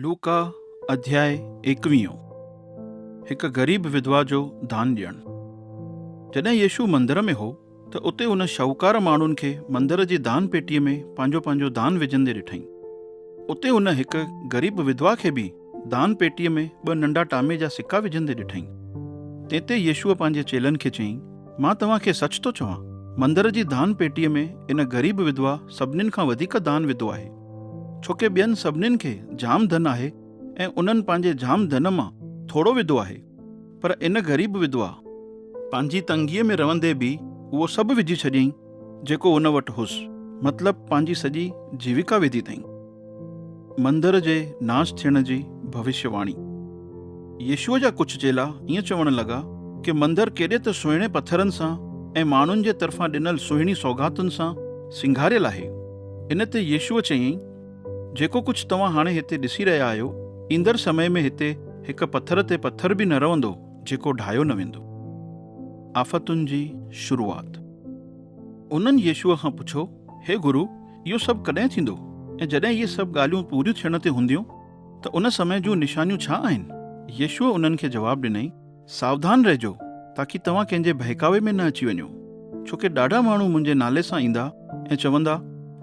لوڪا اڌياء ايڪويهون هڪ غريب وڌوا جو دان ڏيڻ جڏهن يسوع مندر ۾ هو ته اتي هن شاهوڪار ماڻهن کي مندر جي دان پيٽيء ۾ پنهنجو پنهنجو دان وجهندي ڏٺائين. اتي هن هڪ غريب وڌوا کي به دان پيٽيء ۾ ٻه ننڍا ٽامي جا سڪا وجهندي ڏٺائين. تنهن تي يسوع پنهنجي چيلن کي چيائين، مان توهان کي سچ ٿو چوان، مندر جي دان پيٽيء ۾ ان غريب وڌوا سڀنين کان وڌيڪ دان وڌو آهي. ڇو ڪي ٻين سڀنين کي جام ڌن آهي ۽ انهن پنهنجي جام ڌن مان ٿورو وڌو آهي پر ان غريب وڌوا پنهنجي تنگيء ۾ رهندي به اهو سڀ وجهي ڇڏيائين جيڪو ان وٽ هوس مطلب پنهنجي سڄي جيوڪا وڌي اٿائين. مندر جي ناش ٿيڻ جي ڀوشيواڻي. يسوع جا ڪجهه چيلا ائين چوڻ لڳا ڪي مندر ڪيڏي ته سهڻي پٿرن سان ۽ ماڻهن جي طرفان ڏنل سهڻي سوغاتن سان سينگاريل آهي. ان تي يسوع چيائين، جيڪو ڪجهه توهان هاڻي هتي ڏسي رهيا آهيو، ايندڙ سمي ۾ هتي هڪ پٿر تي پٿر به نه رهندو جيڪو ڍاهيو نه ويندو. آفتن جي شروعات. انهن يسوع کان پڇيو، هي گرو، اهو سڀ ڪڏهن ٿيندو ۽ جڏهن اهي سڀ ڳالهيون پوريون ٿيڻ تي هونديون؟ ته ان سمي جون نشانيون ڇا آهن؟ يسوع انهن کي جواب ڏنائين، ساوڌان رهجو، تاڪي توهان ڪنهن جي ڀهڪاوي ۾ نه اچي وڃو. ڇو ڪي ڏاڍا ماڻهو منهنجي نالي سان ايندا ۽ چوندا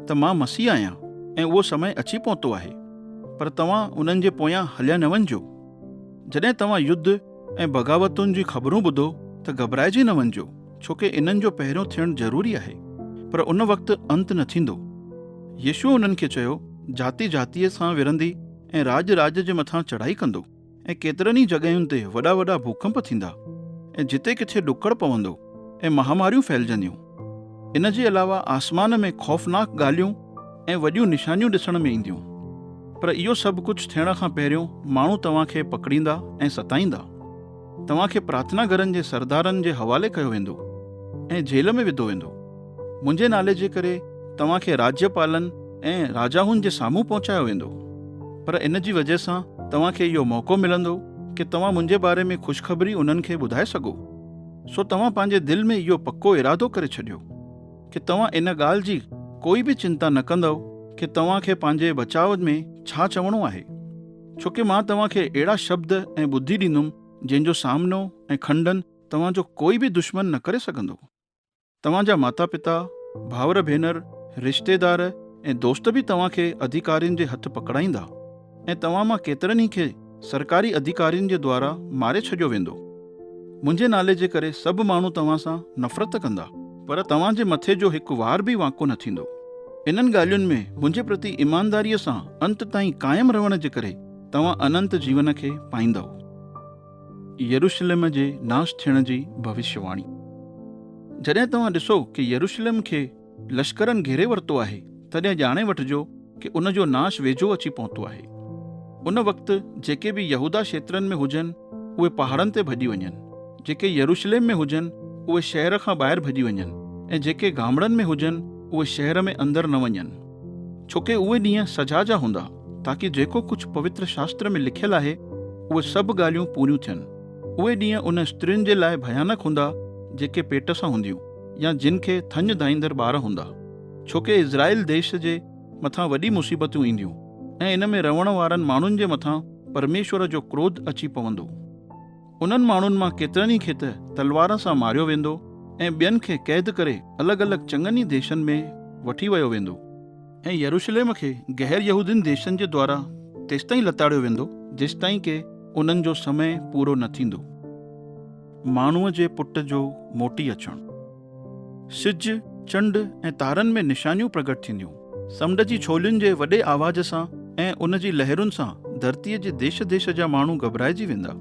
ته مان مسيح آهيان ۽ اهو سمي اچي پهتو آهي. پر توهان انهن جي پويان هليا نه وڃجو. جڏهن توهان يڌ ۽ بغاوتن جون خبرون ٻڌو ته گهٻرائجي نه وڃجو. ڇو ڪي انهن جو پهريون ٿيڻ ضروري آهي، پر ان وقت انت نه ٿيندو. يسوع انهن کي چيو، جاتي جاتيء سان وڙهندي ۽ راڄ راڄ جي مٿان چڙهائي ڪندو، ۽ ڪيترن ئي جڳهين تي وڏا وڏا ڀوڪنپ ٿيندا، ۽ جتي ڪٿي ڏڪڙ پوندو، ۽ مهاماريون ڦهلجنديون. ان جي علاوه آسمان ۾ خوفناڪ ڳالهيون ۽ وڏيون نشانيون ڏسڻ ۾ اينديون. پر اهو سڀ ڪجهه ٿيڻ کان پهريون ماڻهو توهان کي پڪڙيندا ۽ ستائيندا. توهان کي پرارٿنا گهرن جي سردارن جي حوالي ڪيو ويندو ۽ جيل ۾ وڌو ويندو. منهنجي نالي جي ڪري توهان کي راجياپالن ۽ راجاهن جي سامهون پهچايو ويندو. پر ان جي وجهه سان توهان کي اهو موقعو ملندو ڪي توهان منهنجي باري ۾ خوشخبري انهن کي ٻڌائي سگهو. سو توهان پنهنجي دل ۾ اهو پڪو ارادو ڪري ڇڏيو ڪي توهان ان ڳالهه جي ڪوئي به چنتا نه ڪندؤ ڪي توهان کي پنهنجي بچاء ۾ ڇا چوڻو آهي. ڇو ڪي مان توهان کي اهڙا شبد ۽ ٻڌي ڏيندم جن جو سامنو ۽ کنڊن توهان جو ڪوئي به دشمن نه ڪري سگهندو. توهان جا ماتا پتا، ڀائر ڀينر، رشتيدار ۽ دوست به توهان کي اڌيڪارين جي هٿ پڪڙائيندا ۽ توهان مان ڪيترن ئي کي سرڪاري اڌيڪارين جي دوارا ماري ڇڏيو ويندو. منهنجي نالي جي ڪري سڀ ماڻهو توهان سان نفرت ته ڪندا، پر توهان جي مٿي جو هڪ وار به وانڪو نه ٿيندو. انهن ڳالهين ۾ منهنجي پرتي ايمانداريء سان انت تائين قائم رهڻ جي ڪري توهان اننت جيون کي پائيندؤ. يروشلم جي ناش ٿيڻ جي ڀوشيواڻي. جڏهن توهان ڏسو ڪي يروشلم کي. لشڪرن گهيري ورتو آهي، تڏهن ڄاڻي وٺجو ڪي ان جو ناش ويجهو اچي پهتو آهي. ان وقت جيڪي به يهوداه شيترن ۾ هجن، اهي پهاڙن تي ڀڄي وڃن، جيڪي يروشليم ۾ هجن، اهي شهر کان ٻاهر ڀڄي وڃن، ۽ جيڪي گامڙن ۾ هجن، اهي شهر ۾ اندر نه وڃن. ڇوڪي اهي ڏينهن سزا جا هوندا، تاڪي جيڪو ڪجهه پوتر شاستر ۾ لکيل آهي، اهي سڀ ڳالهيون پوريون ٿين. اهي ڏينهن انهن استرين جي لاء ڀيانڪ هوندا، جيڪي پيٽ سان هونديون. يا جن کي ٿڃ ڌائيندڙ ٻار هوندا. ڇوڪه اسرائيل ديس جي مٿان وڏي مصيبتون اينديون ۽ ان ۾ رهڻ وارن ماڻهن جي مٿان پرميشور جو ڪروڌ اچي پوندو. انهن ماڻهن مان ڪيترن ئي کي ته تلوار سان ماريو ويندو ۽ ٻين کي قيد ڪري الڳ الڳ چڱن ئي ديسن ۾ وٺي ويو ويندو. ۽ يروشليم کي غير يهودين ديسن جي دوارا تيستائين لتاڙيو ويندو، جيستائين ڪي انهن جو سمي پورو نه ٿيندو. ماڻهوء جي پٽ جو موٽي اچڻ. سج، چنڊ ۽ تارن ۾ نشانيون پرگهٽ ٿينديون. سمنڊ جي ڇولين جي وڏي آواز سان ۽ ان جي لهرن سان ڌرتيء جي ديش ديش جا ماڻهو گهٻرائجي ويندا.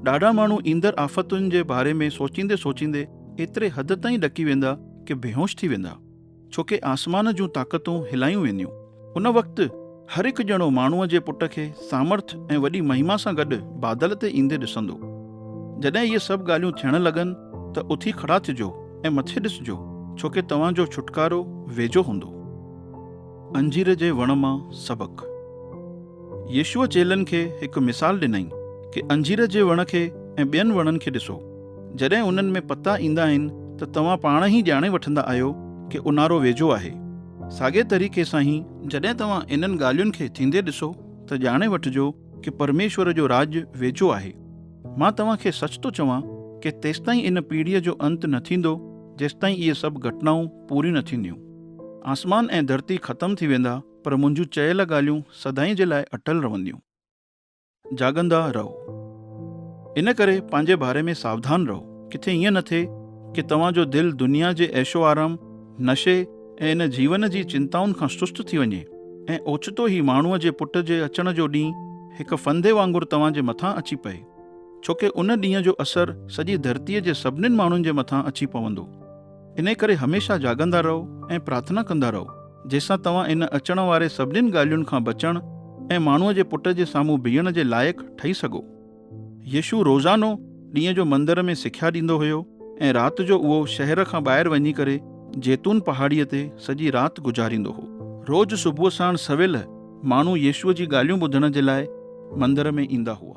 ڏاڍا ماڻهو ايندڙ آفتن جي باري ۾ سوچيندي سوچيندي ايتري حد تائين ڏڪي ويندا ڪه بيهوش ٿي ويندا. ڇو ڪي آسمان جون طاقتون هلايون وينديون. ان وقت هر هڪ ڄڻو ماڻهوء جي پٽ کي سامرٿ ۽ وڏي مهما سان گڏ بادل تي ايندي ڏسندو. جڏهن اهي سڀ ڳالهيون ٿيڻ لڳن ته اٿي کڙا ٿجو ۽ مٿي ڏسجو ڇو ڪي توهان جو ڇوٽڪارو ويجهو هوندو. انجير جي وڻ مان سبق. يسوع چيلن کي هڪ مثال ڏنائين ڪي انجير جي وڻ کي ۽ ٻين وڻن کي ڏسو. جڏهن انهن ۾ پتا ايندا آهن ته توهان پاڻ ئي ڄاڻي وٺندا آهيو ڪي اونهارو ويجهو آهي. ساڳئي طريقي سان ئي، جڏهن توهان انهن ڳالهين کي ٿيندي ڏسو ته ڄاڻي وٺجو ڪي پرميشور جو راڄ ويجهو آهي. مان توهان کي سچ ٿو چوان ڪي تيستائين ان پيڙهيء جو انت نه ٿيندو جيستائين اهي سڀ گهٽنائون پوريون نه ٿينديون. آسمان ۽ ڌرتي ختم ٿي ويندا، پر منهنجون چيل ڳالهيون سدائين جي لاء اٽل رهنديون. جاڳندا رهو. ان ڪري پنهنجي باري ۾ ساوڌان رهو. ڪٿي ائين نه ٿئي ڪي توهان جو دل دنيا جي عيش و آرام، نشي ۽ ان جيون جي چنتائن کان سست ٿي وڃي ۽ اوچتو ئي ماڻهوء جي پٽ جي اچڻ جو ڏينهن هڪ ڦندي وانگر توهان جي مٿان اچي پئي. ڇوڪه ان ڏينهن جو اثر سڄي ڌرتيء جي سڀنين ماڻهن جي مٿان اچي پوندو. انهيء ڪري هميشه جاڳندا رهو ۽ پرارٿنا ڪندا رهو، جنهن سان توهان ان اچڻ واري سڀنين ڳالهين کان بچڻ ۽ ماڻهوء جي پٽ جي سامهون بيهڻ جي لائق ٺهي سگهو. يسوع روزانو ڏينهن جو مندر ۾ سکيا ڏيندو هيو ۽ رات جو اهو شهر کان ٻاهر وڃي ڪري زيتون پهاڙيء تي سڄي رات گذاريندو هو. روز صبح ساڻ سويل ماڻهو يسوع جي ڳالهيون ٻڌڻ جي لاء مندر ۾ ايندا هئا.